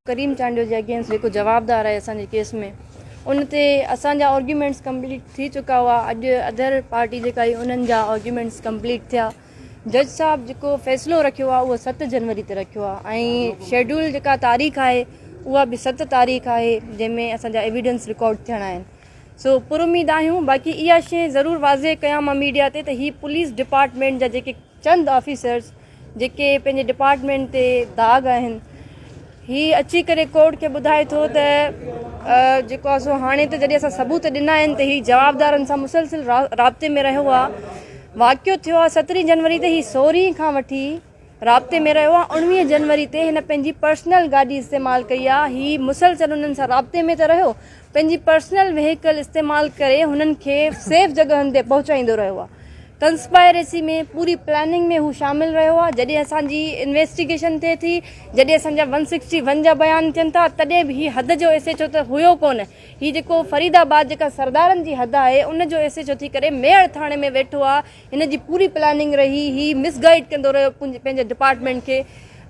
ڪريم چانڊيو جي اگينسٽ جيڪو جوابدار آهي اسان جي ڪيس ۾ ان تي اسان جا آرگيومينٽس ڪمپليٽ ٿي چڪا هئا اڄ ادر پارٽي جيڪا آهي انهن جا آرگيومينٽس ڪمپليٽ ٿيا جج صاحب جيڪو فيصلو رکيو آهي اهو ست جنوري تي رکيو آهي ۽ شيڊول جيڪا تاريخ آهي اها به ست تاريخ آهي جنهن ۾ اسان جا ايويڊنس رڪارڊ ٿيڻا آهن سو پر اميد آهيون باقي اها شي ضرور واضح ڪيان مان ميڊيا تي ته هي پوليس ڊپارٽمنٽ جا جيڪي چند آفيسرز جيڪي پنهنجي ڊپارٽمنٽ تي داغ آهن هي اچي ڪري ڪورٽ کي ٻڌائي ٿو ته جيڪو آهي سو هاڻي ته جڏهن اسان ثبوت ڏنا آهن ته هي جوابدارن سان مسلسل رابطي ۾ رهيو آهي واقعو ٿيو آهي سترهين جنوري تي هي سورهين کان وٺي رابطي ۾ رهيو آهي اڻويهه جنوري تي هن پنهنجي پرسنل گاڏي استعمال ڪئي آهي هي مسلسل انهن سان رابطي ۾ ته رهيو پنهنجي پرسنل وهيڪل استعمال ڪري هنن کي سيف جڳهن تي پهچائيندو رهيو آهي ڪنسپائريسي ۾ پوري پلاننگ ۾ هو شامل رهيو آهي جڏهن اسان جي انويسٽيگيشن ٿئي ٿي جڏهن اسان جا ون سڪسٽي ون جا بيان ٿين ٿا تڏهن به هي حد جو ايس ايڇ او ته هيو ڪونه هي جيڪو فريد آباد جيڪا سردارن جي حد آهي ان جو ايس ايڇ او ٿي ڪري ميڙ ٿاڻي ۾ ويٺو آهي هن جي پوري پلاننگ رهي هي مس گائيڊ ڪندو رهيو پنهنجي ڊپارٽمينٽ کي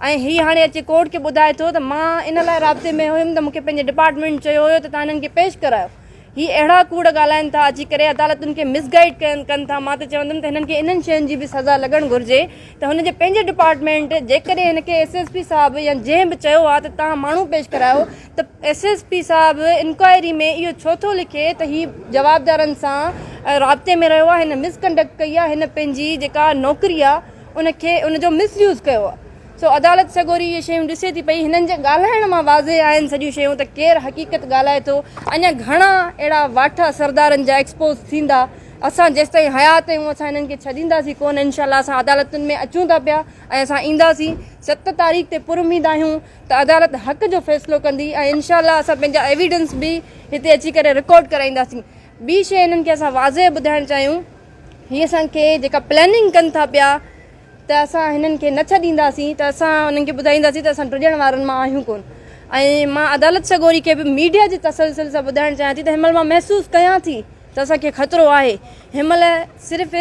۽ هي هاڻي اچي ڪورٽ کي ٻڌائي ٿو ته مان ان لاء رابطي ۾ هيم ته مونکي پنهنجي ڊپارٽمينٽ چيو هيو ته تان هنن کي پيش ڪرايو هي اهڙا ڪوڙ ڳالهائين ٿا اچي ڪري عدالتن کي مس گائيڊ ڪن ٿا مان ته چوندم ته هنن کي انهن شين جي به سزا لڳڻ گهرجي ته هن جي پنهنجي ڊپارٽمينٽ جيڪڏهن هن کي ايس ايس پي صاحب يا جنهن به چيو آ ته تان ماڻهو پيش ڪرايو ته ايس ايس پي صاحب انڪوائري ۾ اهو ڇو ٿو لکي ته هي جوابدارن سان رابطي ۾ رهيو آهي هن مس ڪنڊڪٽ ڪئي آهي هن پنهنجي جيڪا نوڪري آهي ان کي ان جو مس يوز ڪيو آهي سو عدالت سڳوري اهي شيون ڏسي ٿي پئي هنن جي ڳالهائڻ مان واضح آهن سڄيون شيون ته ڪير حقيقت ڳالهائي ٿو اڃا گهڻا اهڙا واٺا سردارن جا ايڪسپوز ٿيندا اسان جيستائين حيات آهيون اسان هنن کي ڇڏينداسين ڪونه انشاء الله اسان عدالتن ۾ اچون ٿا پيا ۽ اسان اينداسين ست تاريخ تي پراميد آهيون ته عدالت حق جو فيصلو ڪندي ۽ انشاء الله اسان پنهنجا ايويڊنس به هتي اچي ڪري رڪارڊ ڪرائينداسين. ٻي شيء هنن کي اسان واضح ٻڌائڻ چاهيون هي اسان کي جيڪا پلاننگ ڪن ٿا پيا ته اسان هنن کي نه ڇڏينداسين ته اسان انهن کي ٻڌائينداسين ته اسان ڊڄڻ وارن مان آهيون ڪون ۽ مان عدالت سڳوري کي به ميڊيا جي تسلسل سان ٻڌائڻ چاهيان ٿي ته هن مهل مان محسوس ڪيان ٿي ته اسان کي خطرو آهي. هن مهل صرف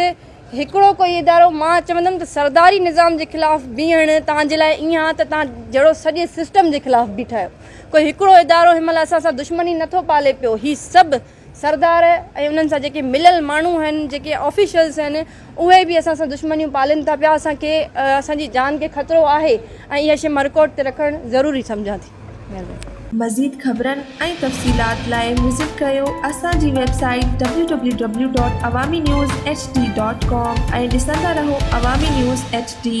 هڪڙو ڪوئي ادارو مان چوندم ته سرداري نظام جي خلاف بيهڻ توهان جي لاء ائين آهي ته توهان جهڙو سڄي سسٽم جي خلاف بيٺا آهيو. ڪوئي هڪڙو ادارو هن مهل اسان سان دشمني نه ٿو پالي پيو. هي سڀ سردار ۽ انهن سان جيڪي مليل ماڻهو آهن، جيڪي آفيشلز آهن، اهي به اسان سان دشمنيون پالين ٿا پيا، اسان کي اسان جي جان کي خطرو آهي ۽ اها شيء مان رڪارڊ تي رکڻ ضروري سمجهان ٿي. مهرباني. مزيد خبرن ۽ تفصيلات لاء وزٽ ڪيو اسان جي website www.awaminews. Hd. Com ۽ ڏسندا رهو عوامي نيوز ايڇ ڊي.